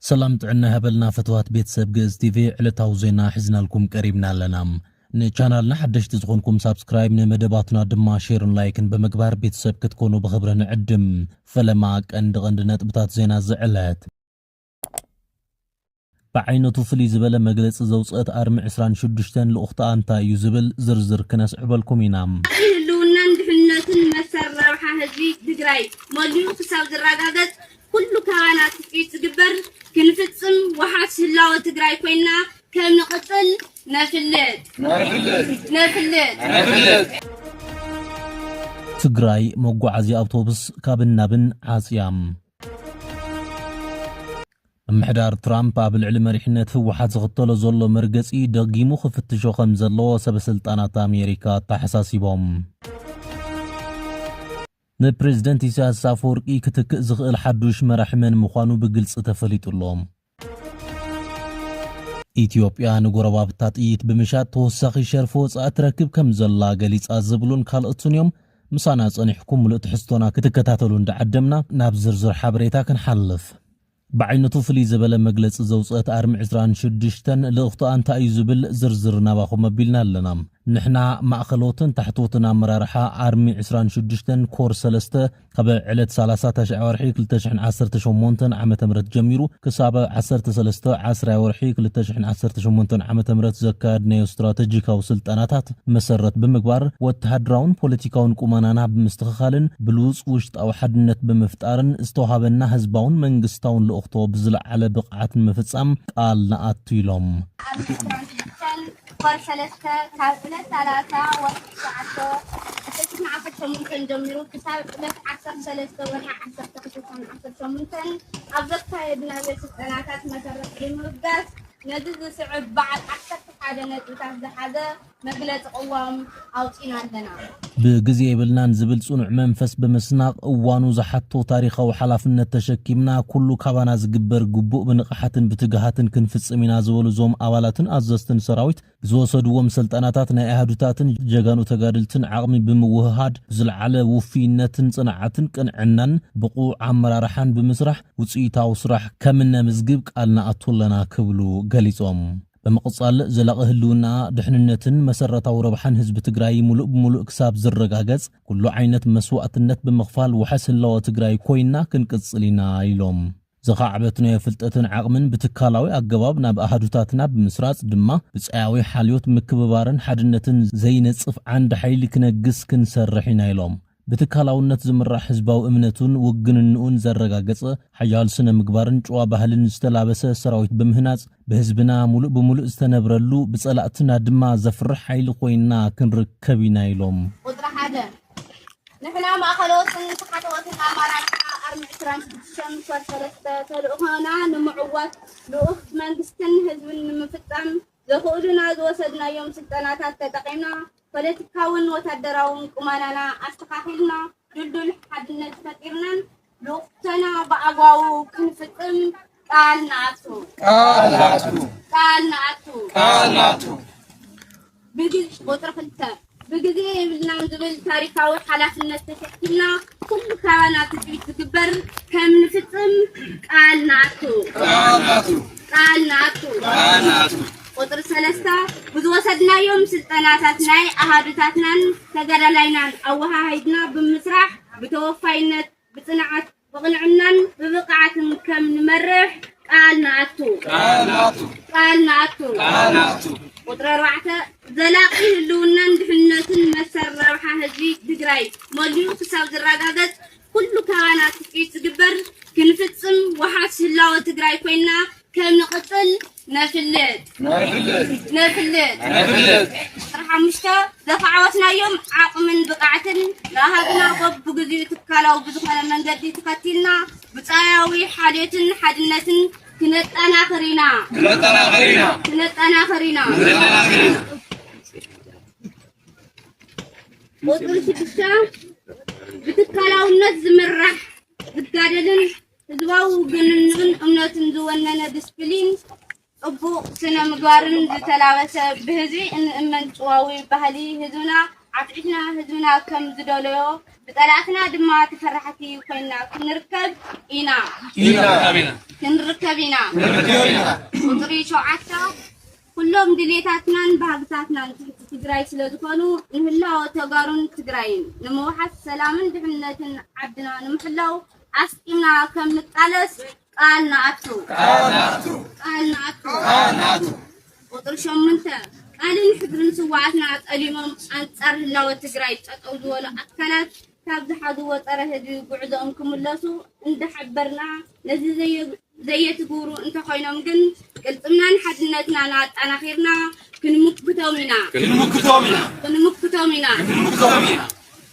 ሰላም ጥዕና ይሃበልና ፈትዋት ቤተሰብ ግእዝ ቲቪ ዕለታዊ ዜና ሒዝናልኩም ቀሪብና ኣለና። ንቻናልና ሓደሽቲ ዝኾንኩም ሳብስክራይብ፣ ንመደባትና ድማ ሼርን ላይክን ብምግባር ቤተሰብ ክትኮኑ ብኽብሪ ንዕድም። ፈለማ ቀንዲ ቀንዲ ነጥብታት ዜና ዝዕለት ብዓይነቱ ፍልይ ዝበለ መግለጺ ዘውጽእት ኣርሚ ዕስራን ሽዱሽተን ልኡኽትኣ እንታይ እዩ ዝብል ዝርዝር ክነስዕበልኩም ኢና። ህልውናን ድሕንነትን መሰል ረብሓ ህዝቢ ትግራይ መሊኡ ክሳብ ዝረጋገጽ ኩሉ ካባና ትጽቢት ዝግበር ክንፍጽም ወሓስ ህላወ ትግራይ ኮይና ከምንቕጽል ነፍልጥ። ትግራይ መጓዓዝያ ኣውቶብስ ካብን ናብን ዓጽያ። ምምሕዳር ትራምፕ ኣብ ልዕሊ መሪሕነት ህወሓት ዝኽተሎ ዘሎ መርገጺ ደጊሙ ክፍትሾ ከም ዘለዎ ሰበስልጣናት ኣሜሪካ ኣተሓሳሲቦም። ንፕሬዝደንት ኢሳያስ ኣፈወርቂ ክትክእ ዝኽእል ሓዱሽ መራሒ መን ምዃኑ ብግልፂ ተፈሊጡ ኣሎ። ኢትዮጵያ ንጎረባብታ ጥይት ብምሻጥ ተወሳኺ ሸርፊ ወፃኢ ትረክብ ከም ዘላ ገሊፃ ዝብሉን ካልኦትን እዮም። ምሳና ፀኒሕኩም ምሉእ ትሕዝቶና ክትከታተሉ እንዳዓደምና ናብ ዝርዝር ሓበሬታ ክንሓልፍ። ብዓይነቱ ፍልይ ዝበለ መግለፂ ዘውፀአት ኣርሚ ዕስራን ሽዱሽተን ልእኽቶኣ እንታይ እዩ ዝብል ዝርዝር ናባኹም ኣቢልና ኣለና። ንሕና ማእኸሎትን ታሕተዎትን ኣመራርሓ ኣርሚ ዕስራን ሽዱሽተን ኮር ሰለስተ፣ ካብ ዕለት ሰላሳ ተሽዐ ወርሒ ክልተ ሽሕን ዓሰርተ ሸሞንተን ዓመተ ምህረት ጀሚሩ ክሳብ ዓሰርተ ሰለስተ ዓስራይ ወርሒ ክልተ ሽሕን ዓሰርተ ሸሞንተን ዓመተ ምህረት ዘካየድናዮ ስትራተጂካዊ ስልጠናታት መሰረት ብምግባር ወተሃደራውን ፖለቲካውን ቁመናና ብምስትኽኻልን ብሉጽ ውሽጣዊ ሓድነት ብምፍጣርን ዝተውሃበና ህዝባውን መንግስታውን ልእኽቶ ብዝለዓለ ብቕዓት ንምፍጻም ቃል ንኣቱ ኢሎም። ጓል ሰለስተ ካብ ዕለት ሰላሳ ወርሒ ትሽዓተ ዓሰርተ ሰሙን ዓሰርተ ሸሞንተን ጀሚሩ ክሳብ ዕለት ዓሰርተ ሰለስተ ወርሒ ዓሰርተ ክልተን ዓሰርተ ሸሞንተን ኣብ ዘካየድናዮ ስልጠናታት መሰረት ብምብጋስ ነዚ ዝስዕብ በዓል ዓሰርተ ሓደ ነጥብታት ዝሓዘ መግለፂ ቅዋም ኣውጺእና ኣለና። ብግዜ የብልናን ዝብል ጽኑዕ መንፈስ ብምስናቕ፣ እዋኑ ዝሓቶ ታሪኻዊ ሓላፍነት ተሸኪምና፣ ኩሉ ካባና ዝግበር ግቡእ ብንቕሓትን ብትግሃትን ክንፍጽም ኢና ዝበሉ እዞም ኣባላትን ኣዘዝትን ሰራዊት፣ ብዝወሰድዎም ሰልጠናታት ናይ ኣሃዱታትን ጀጋኑ ተጋደልትን ዓቕሚ ብምውህሃድ፣ ብዝልዓለ ውፍይነትን ጽንዓትን ቅንዕናን ብቑዕ ኣመራርሓን ብምስራሕ ውጽኢታዊ ስራሕ ከምነምዝግብ ቃል ንኣቱ ኣለና ክብሉ ገሊጾም። ብምቕፃል ዘላቒ ህልውናኣ፣ ድሕንነትን መሰረታዊ ረብሓን ህዝቢ ትግራይ ሙሉእ ብሙሉእ ክሳብ ዝረጋገፅ ኩሉ ዓይነት መስዋእትነት ብምኽፋል ዋሕስ ህላወ ትግራይ ኮይንና ክንቅፅል ኢና ኢሎም። ዘኻዕበትናዮ ፍልጠትን ዓቕምን ብትካላዊ ኣገባብ ናብ ኣሃዱታትና ብምስራፅ ድማ ብፃያዊ ሓልዮት ምክብባርን ሓድነትን ዘይነፅፍ ዓንዲ ሓይሊ ክነግስ ክንሰርሕ ኢና ኢሎም። ብትካላውነት ዝምራሕ ህዝባዊ እምነቱን ውግንንኡን ዘረጋገጸ፣ ሓያል ስነ-ምግባርን ጭዋ ባህልን ዝተላበሰ ሰራዊት ብምህናጽ፣ ብህዝብና ሙሉእ ብሙሉእ ዝተነብረሉ፣ ብጸላእትና ድማ ዘፍርሕ ሓይሊ ኮይንና ክንርከብ ኢና ኢሎም። ቁጽሪ ሓደ፣ ንሕና ማእኸለዎትን ታሕተዎትን ኣማራጭና ኣርሚ ዕስራን ሽዱሽተን ምኽባር ሰለስተ ተልእኾና ንምዕዋት ልኡኽ መንግስትን ህዝብን ንምፍጻም፣ ዘኽእሉና ዝወሰድናዮም ስልጠናታት ተጠቒምና ፖለቲካውን ወታደራውን ቁመናና ኣስተኻኺልና ድልዱል ሓድነት ፈጢርናን ልኡኽቶና ብኣግባቡ ክንፍፅም ቃል ንኣቱ። ቃል ንኣቱ። ቃል ንኣቱ። ቃል ንኣቱ። ብግልፂ ቁፅሪ ክልተ ብግዜ የብልናን ዝብል ታሪኻዊ ሓላፍነት ተሰኪምና ኩሉ ካባና ትጽቢት ዝግበር ከም ንፍጽም ቃል ንኣቱ። ቃል ንኣቱ። ቁጽሪ ሰለስተ ብዝወሰድናዮም ስልጠናታት ናይ ኣሃዱታትናን ተጋዳላይናን ኣወሃሂድና ብምስራሕ ብተወፋይነት፣ ብጽንዓት፣ ብቕንዕናን ብብቕዓትን ከም ንመርሕ ቃል ንኣቱ። ቃል ንኣቱ። ቃል ንኣቱ። ቃል ንኣቱ። ቁፅሪ ኣርባዕተ፣ ዘላቒ ህልውናን ድሕንነትን መሰል ረብሓ ህዝቢ ትግራይ መሊኡ ክሳብ ዝረጋገፅ ኩሉ ካባና ትፅቢት ዝግበር ክንፍፅም ወሓስ ህላወ ትግራይ ኮይንና ክንቕፅል ነፍልጥ ነፍልጥ ነፍልጥ ዕስራ ሓሙሽተ ዘኻዕወትናዮም ዓቕምን ብቕዓትን ንሃብና በብግዚኡ ትካላዊ ብዝኾነ መንገዲ ተኸቲልና ብፃያዊ ሓልዮትን ሓድነትን ክነጠናኽር ኢና ክነጠናኽር ኢና ቁፅሪ ሽዱሽተ ብትካላውነት ዝምራሕ ዝጋደልን ህዝባዊ ውግንንኡን እምነቱን ዝወነነ ድስፕሊን፣ ጽቡቕ ስነ ምግባርን ዝተላበሰ ብህዝቢ እንእመን ጭዋዊ ባህሊ ህዝብና ዓትዒትና ህዝብና ከም ዝደለዮ ብጸላእትና ድማ ተፈራሕቲ ኮይና ክንርከብ ኢና ክንርከብ ኢና ቁጽሪ ሸውዓተ ኩሎም ድሌታትናን ባህግታትናን ትሕቲ ትግራይ ስለ ዝኾኑ ንህላወ ተጋሩን ትግራይን ንምውሓስ ሰላምን ድሕንነትን ዓድና ንምሕላው ኣስጢምና ከም ንቃለስ ቃል ንኣቱ። ቃል ንኣቱ። ቁፅሪ ሸሞንተ ቃልን ሕድርን ስውኣትና ጠሊሞም ኣንፃር ህላወ ትግራይ ጠጠው ዝበሉ ኣካላት ካብ ዝሓዝዎ ፀረ ህዝቢ ጉዕዘኦም ክምለሱ እንዳሓበርና ነዚ ዘየትግብሩ እንተኾይኖም ግን ቅልፅምናን ሓድነትናን ኣጣናኺርና ክንምክቶም ኢና! ክንምክቶም ኢና! ክንምክቶም ኢና! ክንምክቶም ኢና!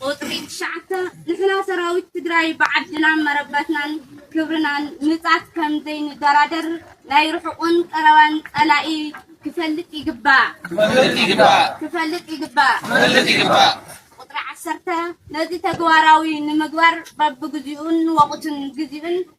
ቁፅሪ ትሽዓተ፣ ንሕና ሰራዊት ትግራይ ብዓድናን መረበትናን ክብርናን ምፃት ከም ዘይንደራደር ናይ ርሑቕን ቀረባን ፀላኢ ክፈልጥ ይግባእ! ክፈልጥ ይግባእ! ክፈልጥ ይግባእ! ክፈልጥ ይግባእ! ቁፅሪ ዓሰርተ፣ ነዚ ተግባራዊ ንምግባር በብግዚኡን ወቕቱን ግዚኡን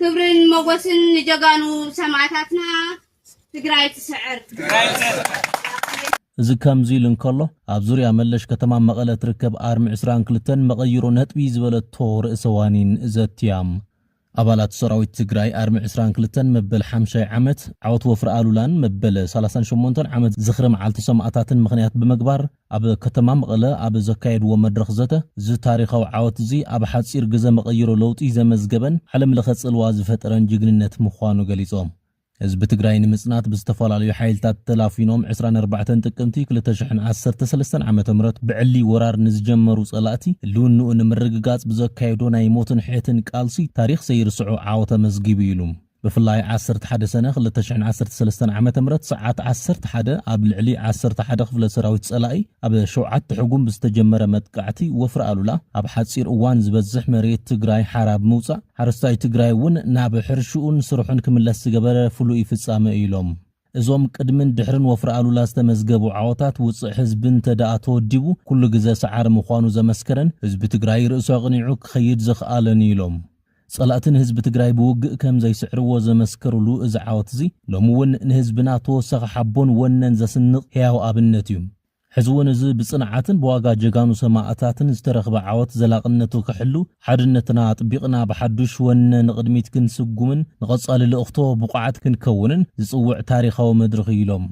ክብርን ሞጎስን ንጀጋኑ ሰማእታትና ትግራይ ትስዕር። እዚ ከምዚ ኢሉ እንከሎ፣ ኣብ ዙርያ መለሽ ከተማ መቐለ እትርከብ ኣርሚ ዕስራን ክልተን መቐይሮ ነጥቢ ዝበለቶ ርእሰ ዋኒን ዘትያ። ኣባላት ሰራዊት ትግራይ ኣርሚ ዕስራን ክልተን መበል ሓምሻይ ዓመት ዓወት ወፍሪ ኣሉላን መበል ሰላሳን ሸሞንተን ዓመት ዝኽሪ መዓልቲ ሰማእታትን ምኽንያት ብምግባር ኣብ ከተማ መቐለ ኣብ ዘካየድዎ መድረኽ ዘተ፣ እዚ ታሪኻዊ ዓወት'ዚ ኣብ ሓጺር ግዘ መቐይሮ ለውጢ ዘመዝገበን ዓለም ለኸ ጽልዋ ዝፈጠረን ጅግንነት ምዃኑ ገሊጾም። ህዝቢ ትግራይ ንምጽናት ብዝተፈላለዩ ሓይልታት ተላፊኖም ዕስራን ኣርባዕተን ጥቅምቲ ክልተ ሽሕን ዓሰርተ ሰለስተን ዓመተ ምህረት ብዕሊ ወራር ንዝጀመሩ ጸላእቲ ህልውንኡ ንምርግጋጽ ብዘካየዶ ናይ ሞትን ሕየትን ቃልሲ ታሪኽ ዘይርስዖ ዓወት ኣመዝጊቡ ኢሉ። ብፍላይ ዓሰርተ ሓደ ሰነ ክልተ ሽሕን ዓሰርተ ሰለስተን ዓመተ ምህረት ሰዓት ዓሰርተ ሓደ ኣብ ልዕሊ ዓሰርተ ሓደ ክፍለ ሰራዊት ጸላኢ ኣብ ሸውዓተ ሕጉም ብዝተጀመረ መጥቃዕቲ ወፍሪ ኣሉላ ኣብ ሓጺር እዋን ዝበዝሕ መሬት ትግራይ ሓራ ብምውጻእ ሓረስታይ ትግራይ እውን ናብ ሕርሽኡን ስርሑን ክምለስ ዝገበረ ፍሉይ ፍጻመ እዩ ኢሎም። እዞም ቅድምን ድሕርን ወፍሪ ኣሉላ ዝተመዝገቡ ዓወታት ውፅዕ ህዝቢ እንተድኣ ተወዲቡ ኩሉ ግዘ ሰዓሪ ምዃኑ ዘመስከረን ህዝቢ ትግራይ ርእሱ ኣቕኒዑ ክኸይድ ዘኽኣለን እዩ ኢሎም። ፀላእቲ ንህዝቢ ትግራይ ብውግእ ከምዘይስዕርዎ ዘመስከሩሉ እዚ ዓወት እዚ ሎሚ እውን ንህዝብና ተወሳኺ ሓቦን ወነን ዘስንቕ ህያው ኣብነት እዩ። ሕዚ እውን እዚ ብፅንዓትን ብዋጋ ጀጋኑ ሰማእታትን ዝተረኽበ ዓወት ዘላቕነቱ ክሕሉ ሓድነትና ኣጥቢቕና ብሓዱሽ ወነ ንቕድሚት ክንስጉምን ንቐፃሊ ልእኽቶ ብቑዓት ክንከውንን ዝፅውዕ ታሪኻዊ መድርኽ እዩ ኢሎም።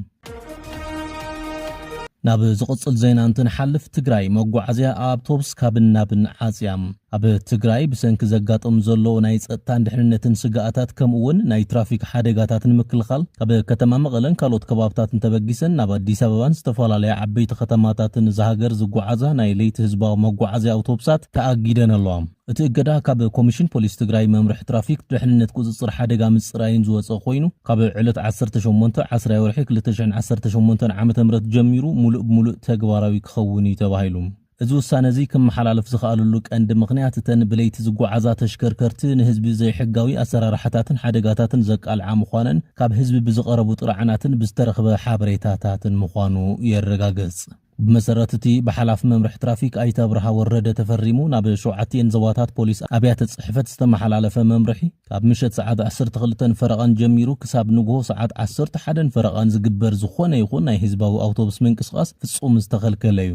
ናብ ዝቕፅል ዜና እንትንሓልፍ ትግራይ መጓዓዝያ ኣኣብቶብስ ካብን ናብን ዓፅያ። ኣብ ትግራይ ብሰንኪ ዘጋጥም ዘሎ ናይ ፀጥታን ድሕንነትን ስግኣታት ከምኡ እውን ናይ ትራፊክ ሓደጋታት ንምክልኻል ካብ ከተማ መቐለን ካልኦት ከባብታትን ተበጊሰን ናብ ኣዲስ ኣበባን ዝተፈላለያ ዓበይቲ ከተማታትን እዛ ሃገር ዝጓዓዛ ናይ ለይቲ ህዝባዊ መጓዓዝያ ኣውቶብሳት ተኣጊደን ኣለዋ። እቲ እገዳ ካብ ኮሚሽን ፖሊስ ትግራይ መምርሒ ትራፊክ ድሕንነት ቁፅፅር ሓደጋ ምፅራይን ዝወፀ ኮይኑ ካብ ዕለት ዓሰርተ ሸሞንተ ዓስራይ ወርሒ ክልተ ሽሕን ዓሰርተ ሸሞንተን ዓመተ ምህረት ጀሚሩ ሙሉእ ብሙሉእ ተግባራዊ ክኸውን ኢዩ ተባሂሉ። እዚ ውሳነ'ዚ ክመሓላለፍ ዝኸኣለሉ ቀንዲ ምኽንያት፣ እተን ብለይቲ ዝጓዓዛ ተሽከርከርቲ ንህዝቢ ዘይሕጋዊ ኣሰራርሓታትን ሓደጋታትን ዘቃልዓ ምዃነን ካብ ህዝቢ ብዝቐረቡ ጥርዓናትን ብዝተረኽበ ሓበሬታታትን ምዃኑ የረጋግጽ። ብመሰረት'ቲ ብሓላፊ መምርሒ ትራፊክ ኣይተ ኣብርሃ ወረደ ተፈሪሙ ናብ ሸውዓቲኤን ዞባታት ፖሊስ ኣብያተ ጽሕፈት ዝተመሓላለፈ መምርሒ፣ ካብ ምሸት ሰዓት ዓሰርተ ክልተን ፈረቓን ጀሚሩ ክሳብ ንግሆ ሰዓት ዓሰርተ ሓደን ፈረቓን ዝግበር ዝኾነ ይኹን ናይ ህዝባዊ ኣውቶቡስ ምንቅስቓስ ፍጹም ዝተኸልከለ'ዩ።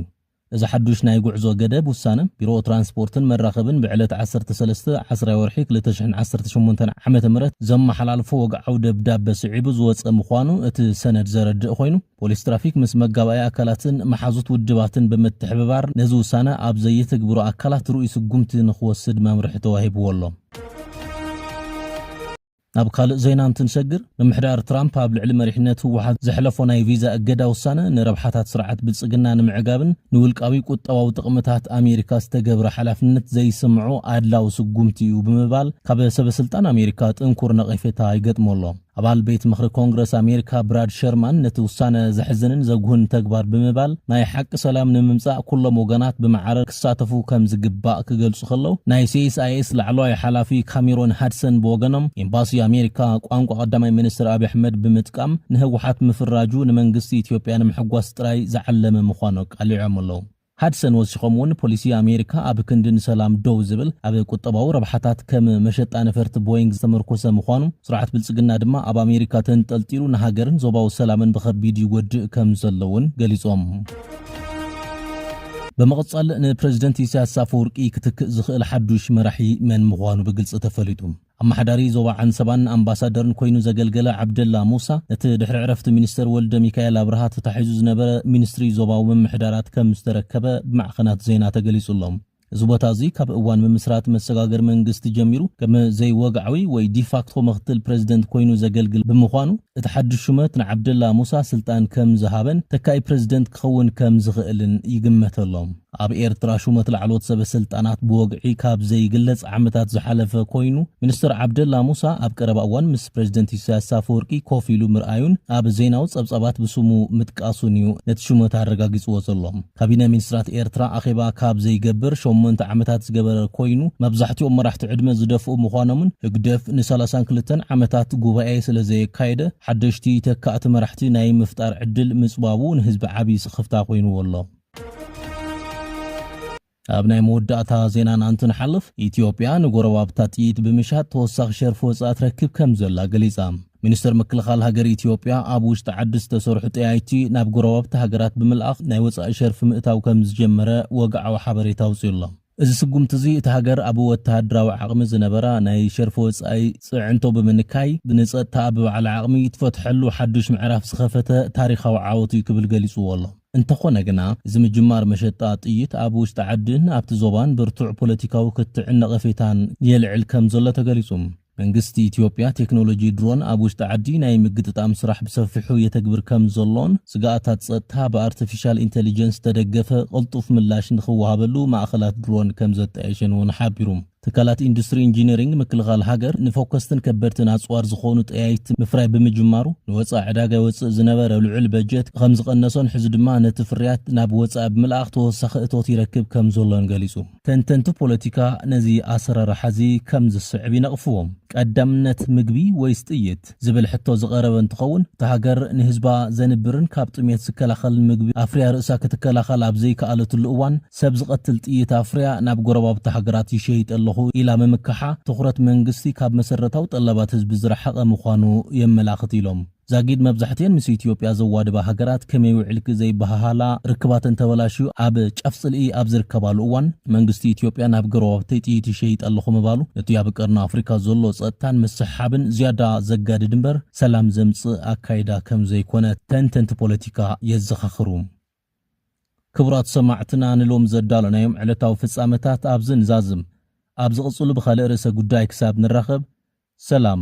እዚ ሓዱሽ ናይ ጉዕዞ ገደብ ውሳነ፣ ቢሮ ትራንስፖርትን መራኸብን ብዕለት ዓሰርተ ሰለስተ ዓስራይ ወርሒ ክልተ ሽሕን ዓሰርተ ሸሞንተን ዓመተ ምህረት ዘመሓላልፎ ወግዓዊ ደብዳበ ስዒቡ ዝወጸ ምዃኑ እቲ ሰነድ ዘረድእ ኮይኑ፣ ፖሊስ ትራፊክ ምስ መጋባእያ ኣካላትን መሓዙት ውድባትን ብምትሕብባር ነዚ ውሳነ ኣብ ዘየትግብሩ ኣካላት ርኡይ ስጉምቲ ንኽወስድ መምርሒ ተዋሂብዎ ኣሎ። ናብ ካልእ ዜና እንትንሰግር፣ ምምሕዳር ትራምፕ ኣብ ልዕሊ መሪሕነት ህወሓት ዘሕለፎ ናይ ቪዛ እገዳ ውሳነ ንረብሓታት ስርዓት ብልጽግና ንምዕጋብን ንውልቃዊ ቁጠባዊ ጥቕምታት ኣሜሪካ ዝተገብረ ሓላፍነት ዘይስምዖ ኣድላዊ ስጉምቲ'ዩ ብምባል ካብ ሰበስልጣን ኣሜሪካ ጥንኩር ነቐፌታ ይገጥሞ ኣሎ። ኣባል ቤት ምኽሪ ኮንግረስ ኣሜሪካ ብራድ ሸርማን ነቲ ውሳነ ዘሕዝንን ዘጉህን ተግባር ብምባል ናይ ሓቂ ሰላም ንምምጻእ ኩሎም ወገናት ብማዕረ ክሳተፉ ከም ዝግባእ ክገልጹ ከለው፣ ናይ ሲኤስኣይኤስ ላዕለዋይ ሓላፊ ካሜሮን ሃድሰን ብወገኖም፣ ኤምባሲ ኣሜሪካ ቋንቋ ቀዳማይ ሚኒስትር ኣብዪ ኣሕመድ ብምጥቃም ንህወሓት ምፍራጁ ንመንግስቲ ኢትዮጵያ ንምሕጓስ ጥራይ ዝዓለመ ምዃኑ ኣቃሊዖም ኣለው። ሃድሰን ወሲኾም እውን ፖሊሲ ኣሜሪካ ኣብ ክንዲ ንሰላም ደው ዝብል ኣብ ቁጠባዊ ረብሓታት ከም መሸጣ ነፈርቲ ቦይንግ ዝተመርኮሰ ምዃኑ፣ ስርዓት ብልጽግና ድማ ኣብ ኣሜሪካ ተንጠልጢሉ ንሃገርን ዞባዊ ሰላምን ብኸቢድ ይጎድእ ከም ዘሎ እውን ገሊጾም። ብምቕጻል ንፕረዚደንት ኢሳያስ ኣፈወርቂ ክትክእ ዝኽእል ሓዱሽ መራሒ መን ምዃኑ ብግልጺ ተፈሊጡ። ኣመሓዳሪ ዞባ ዓንሰባን ኣምባሳደርን ኮይኑ ዘገልገለ ዓብደላ ሙሳ፣ ነቲ ድሕሪ ዕረፍቲ ሚኒስተር ወልደሚካኤል ኣብርሃ ተታሒዙ ዝነበረ ሚኒስትሪ ዞባዊ ምምሕዳራት ከም ዝተረከበ ብማዕኸናት ዜና ተገሊጹ ኣሎ። እዚ ቦታ እዚ ካብ እዋን ምምስራት መሰጋገሪ መንግስቲ ጀሚሩ ከም ዘይወግዓዊ ወይ ዲፋክቶ ምኽትል ፕረዚደንት ኮይኑ ዘገልግል ብምዃኑ እቲ ሓድሽ ሹመት ንዓብደላ ሙሳ ስልጣን ከም ዝሃበን ተካኢ ፕረዚደንት ክኸውን ከም ዝኽእልን ይግመተሎ። ኣብ ኤርትራ ሹመት ላዕለዎት ሰበ ስልጣናት ብወግዒ ካብ ዘይግለጽ ዓመታት ዝሓለፈ ኮይኑ ሚኒስተር ዓብደላ ሙሳ ኣብ ቀረባ እዋን ምስ ፕረዚደንት ኢሳያስ ኣፈወርቂ ኮፍ ኢሉ ምርኣዩን ኣብ ዜናዊ ጸብጻባት ብስሙ ምጥቃሱን እዩ ነቲ ሹመት ኣረጋጊጽዎ ዘሎ። ካቢነ ሚኒስትራት ኤርትራ ኣኼባ ካብ ዘይገብር ሸሞንተ ዓመታት ዝገበረ ኮይኑ፣ መብዛሕትኦም መራሕቲ ዕድመ ዝደፍኡ ምዃኖምን ህግደፍ ንሳላሳን ክልተን ዓመታት ጉባኤ ስለዘየካየደ ሓደሽቲ ተካእቲ መራሕቲ ናይ ምፍጣር ዕድል ምጽባቡ ንህዝቢ ዓቢ ስኽፍታ ኮይንዎ ኣሎ። ኣብ ናይ መወዳእታ ዜናና እንትንሓልፍ፣ ኢትዮጵያ ንጎረባብታ ጥይት ብምሻጥ ተወሳኺ ሸርፊ ወጻኢ ትረክብ ከምዘላ ገሊጻ። ሚኒስተር ምክልኻል ሃገር ኢትዮጵያ፣ ኣብ ውሽጢ ዓዲ ዝተሰርሑ ጠያይቲ ናብ ጎረባብቲ ሃገራት ብምልኣኽ ናይ ወጻኢ ሸርፊ ምእታው ከምዝጀመረ ወግዓዊ ሓበሬታ ኣውጺኡ ኣሎ። እዚ ስጉምቲ'ዚ፣ እታ ሃገር ኣብ ወተሃደራዊ ዓቕሚ ዝነበራ ናይ ሸርፊ ወጻኢ ጽዕንቶ ብምንካይ፣ ንጸጥታኣ ብባዕላ ዓቕሚ እትፈትሐሉ ሓዱሽ ምዕራፍ ዝኸፈተ ታሪኻዊ ዓወት'ዩ ክብል ገሊጽዎ ኣሎ። እንተኾነ ግና፣ እዚ ምጅማር መሸጣ ጥይት ኣብ ውሽጢ ዓዲን ኣብቲ ዞባን ብርቱዕ ፖለቲካዊ ክትዕን ነቐፌታን የልዕል ከምዘሎ ተገሊጹ። መንግስቲ ኢትዮጵያ ቴክኖሎጂ ድሮን ኣብ ውሽጢ ዓዲ ናይ ምግጥጣም ስራሕ ብሰፊሑ የተግብር ከምዘሎን ስግኣታት ፀጥታ ብኣርተፊሻል ኢንተሊጀንስ ዝተደገፈ ቅልጡፍ ምላሽ ንኽወሃበሉ ማእኸላት ድሮን ከምዘጣየሸን እውን ሓቢሩ። ትካላት ኢንዱስትሪ ኢንጂነሪንግ ምክልኻል ሃገር ንፎከስትን ከበድትን ኣፅዋር ዝኾኑ ጠያይቲ ምፍራይ ብምጅማሩ ንወፃኢ ዕዳጋ የወፅእ ዝነበረ ልዑል በጀት ከምዝቐነሶን ሕዚ ድማ ነቲ ፍርያት ናብ ወፃኢ ብምልኣኽ ተወሳኺ እቶት ይረክብ ከምዘሎን ገሊፁ። ተንተንቲ ፖለቲካ ነዚ ኣሰራርሓ'ዚ ከም ዝስዕብ ይነቕፍዎ። ቀዳምነት ምግቢ ወይስ ጥይት? ዝብል ሕቶ ዝቐረበ እንትኸውን፣ እታ ሃገር ንህዝባ ዘንብርን ካብ ጥሜት ዝከላኸልን ምግቢ ኣፍርያ ርእሳ ክትከላኸል ኣብ ዘይከኣለትሉ እዋን፣ ሰብ ዝቐትል ጥይት ኣፍርያ ናብ ጎረባብቲ ሃገራት ይሸይጥ ኣለኹ ኢላ ምምካሓ፣ ትኹረት መንግስቲ ካብ መሰረታዊ ጠለባት ህዝቢ ዝረሓቐ ምዃኑ የመላኽት ኢሎም። ዛጊድ መብዛሕቲኤን ምስ ኢትዮጵያ ዘዋድባ ሃገራት ከመይ ውዒልኪ ዘይበሃሃላ፣ ርክባተን ተበላሽዩ ኣብ ጫፍ ጽልኢ ኣብ ዝርከባሉ እዋን፣ መንግስቲ ኢትዮጵያ ናብ ገረባብተይ ጥይት ይሸይጥ ኣለኹ ምባሉ፣ ነቲ ኣብ ቀርኒ ኣፍሪካ ዘሎ ጸጥታን ምስሕሓብን ዝያዳ ዘጋድድ እምበር ሰላም ዘምጽእ ኣካይዳ ከም ዘይኮነ ተንተንቲ ፖለቲካ የዘኻኽሩ። ክቡራት ሰማዕትና ንሎሚ ዘዳሎናዮም ዕለታዊ ፍጻመታት ኣብዚ ንዛዝም። ኣብ ዝቕጽሉ ብኻልእ ርእሰ ጉዳይ ክሳብ ንራኸብ ሰላም።